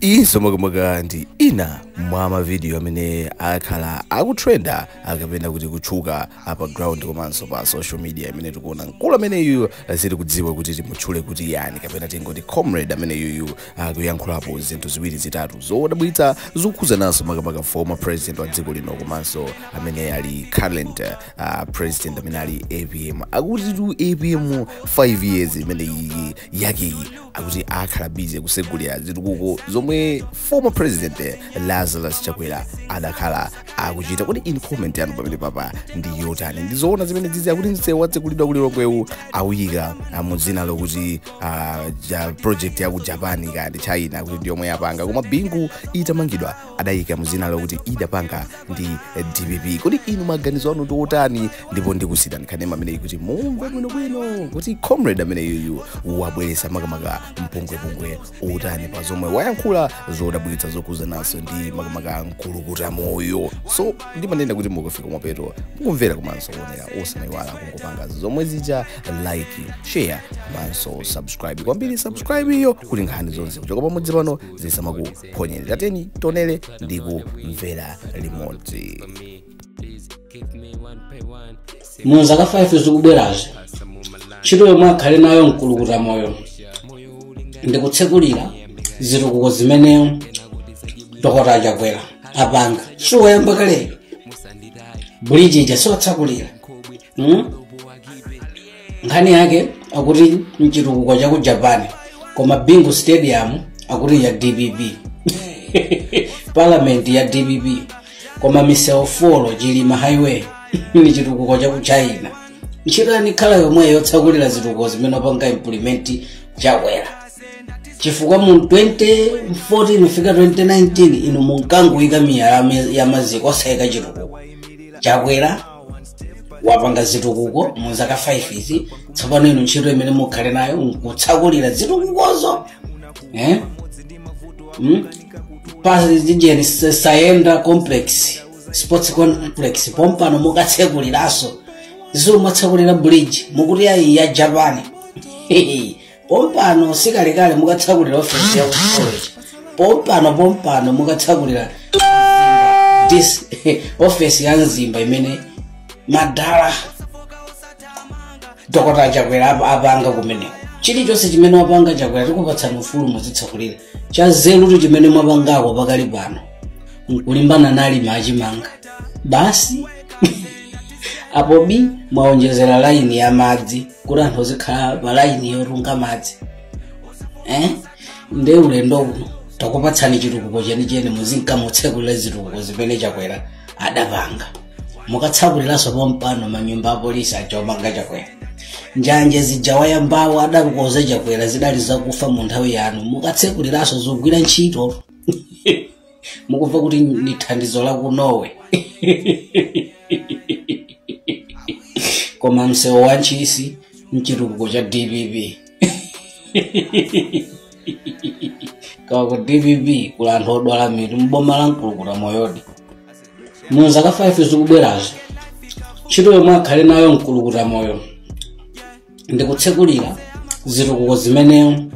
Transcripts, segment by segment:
iyinso makamaka ndi ina mwa mavidiyo amene akhala akutrenda akapena kuti kutchuka pa ground komanso pa social media imene tikuona mkulu ameneyu sitikudziwa kuti timutchule kuti ndani kapena tingoti comrade ameneyuyu akuyankhulapo zinthu ziwiri zitatu zodabwitsa zokhudzana nso makamaka former president wa dziko lino komanso amene ali current uh, president amene ali apm akutitu apm 5 years imene iyi yakeyi akuti akhala bize kusegulira zitukuko zomwe former president eh, lazarus chakwera adakhala akuchita kodi inu comment yanu pamene papa ndi yotani ndizoona zimene zizi akuti msewu watsegulidwa ku lilongwewu awuyika ah, mu dzina lokuti ah, ja- project ya ku japan kaya ndi china kuti ndiyomwe yapanga koma bingu itamangidwa adayika mu dzina lokuti idapanga ndi dpp kodi inu maganizo anu ndi otani ndipo ndikuonetsani kanema ameneyi kuti mumve bwinobwino kuti comrade ameneyuyu wabweretsa makamaka mpungwepungwe wotani pa zomwe wayankhula zodabwitsa zokhudzananso ndi makamaka mkulukuta moyo so ndimanena kuti mukafika mapeto mukumvera komanso kuonera osamayiwala kungopanga zomwe zija like share komanso subscribe kwambiri subscribe iyo kuti nkhani zonse kuchoka pamudzi pano zisamaku phonyeni tiyeni tionere ndi kumvera limodzi mu zaka 5 zikubwerazi ntchito yomwe akhale nayo mkulukuta moyo ndikutsekulira zitukuko zimene dokota achakwera apanga si wayamba kale buliji ija si watsakulira mm? nkhani yake akuti nchitukuko cha ku japan koma bingu stadium akuti ya dpp parliament ya dpp koma misewu folo chilima highway ni chitukuko cha ku china ntchito yanu ikhala yomweyo yotsakulira zitukuko zimene apanga implement chakwera chifukwa mu 2014 kufika 2019 inu munkangoyika miyala ya maziko osayika chitukuko chakwera wapanga zitukuko mu zaka 5 izi tsopano inu ntchito imene mukhale nayo nkutsakulira zitukukozo eh? mm? pa zijeni saenda complex sports complex pompano mukatsekuliraso zomwe mwatsekulira bridge mukuti ayi ya japan pompano sikalekale mukatsakulira ofesi ya college pompano pompano mukatsakulira this ofesi ya mzimba imene madala dokota chakwera apa- apanga kumeneko chilichonse chimene wapanga chakwera tikupatsani ufulu muzitsakulira chanzerutu chimene mwapangako pakali pano nkulimbana ndi alimi a chimanga basi apo bi mwaonjezera laini ya madzi kuti anthu azikhala pa laini yotunga madzi eh? nde ulendo uno takupatsani chitukuko chenicheni muzinkamutsekulira zitukuko zimene chakwera adapanga mukatsakuliranso pompano manyumba apolisi aja omanga chakwera njanje zija wayambawo adakonza chakwera zidali zakufa mu nthawi yanu mukatsekuliraso zogwira ntchito mukumva kuti ndi thandizo la ku norway koma msewu wa ntchisi mchitukuko cha dpp kawa ku dpp kuli anthu odwala mitu mboma la mkulukuta moyodi mu zaka 5 zikubwerazo ntchito yomwe akhale nayo mkulukuta moyo ndikutsekulira zitukuko zimene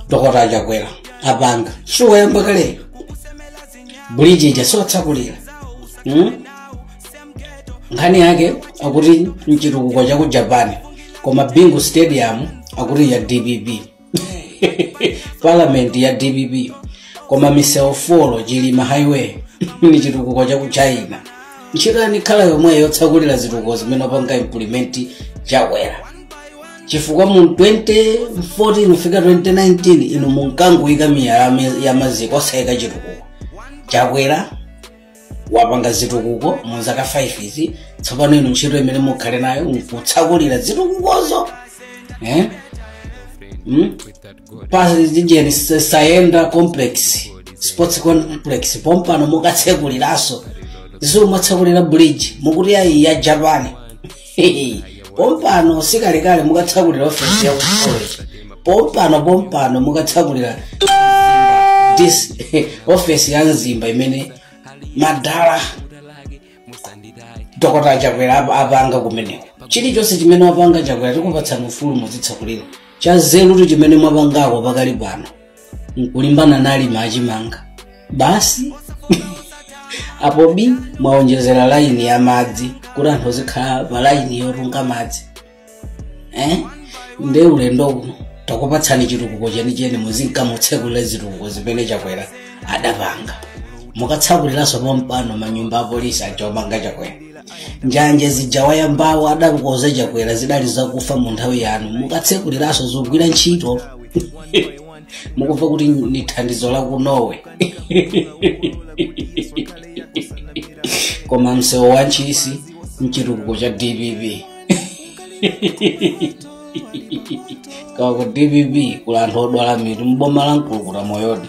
dokota achakwera apanga siwayamba kaleyo buliji ija siwatsakulira mm? nkhani yake akuti mchitukuko cha ku japan koma bingu stadium akuti ya dpp parliament ya dpp koma misewu folo chilima highway ni chitukuko cha ku china ntchito yanu ikhala yomweyo yotsakulira zitukuko zimene apanga implement chakwera chifukwa mu 2014 kufika 2019 inu munkangoyika miyala ya maziko osayika chitukuko chakwera wapanga zitukuko mu zaka 5 izi tsopano inu ntchito imene mukhale nayo nkutsakulira zitukukozo eh? mm? pa griffin saenda complex sports complex pompano mukatsekuliraso zomwe mwatsekulira bridge mukuti ayi ya japan pompano sikalekale mukatsakulira ofesi ya kusoleti pompano pompano mukatsakulira dc ofesi ya mzimba imene madala dokota chakwera ap- apanga kumeneko chilichonse chimene wapanga chakwera tikupatsani ufulu muzitsakulira cha nzerutu chimene mwapangako pakali pano nkulimbana na alimi a chimanga basi apo bi mwaonjezera laini ya madzi kuti anthu azikhala pa laini yotunga madzi eh? nde ulendo uno takupatsani chitukuko chenicheni muzinkamutsekulira zitukuko zimene chakwera adapanga mukatsakuliranso pompano manyumba apolisi aja omanga chakwera njanje zija wayambawo adakonza chakwera zidali zakufa mu nthawi yanu mukatsekuliraso zogwira ntchito mukumva kuti ni thandizo la ku norway koma msewu wa ntchisi mchitukuko cha dpp kawa ku dpp kuli anthu odwala mitu mboma la mkulukuta moyodi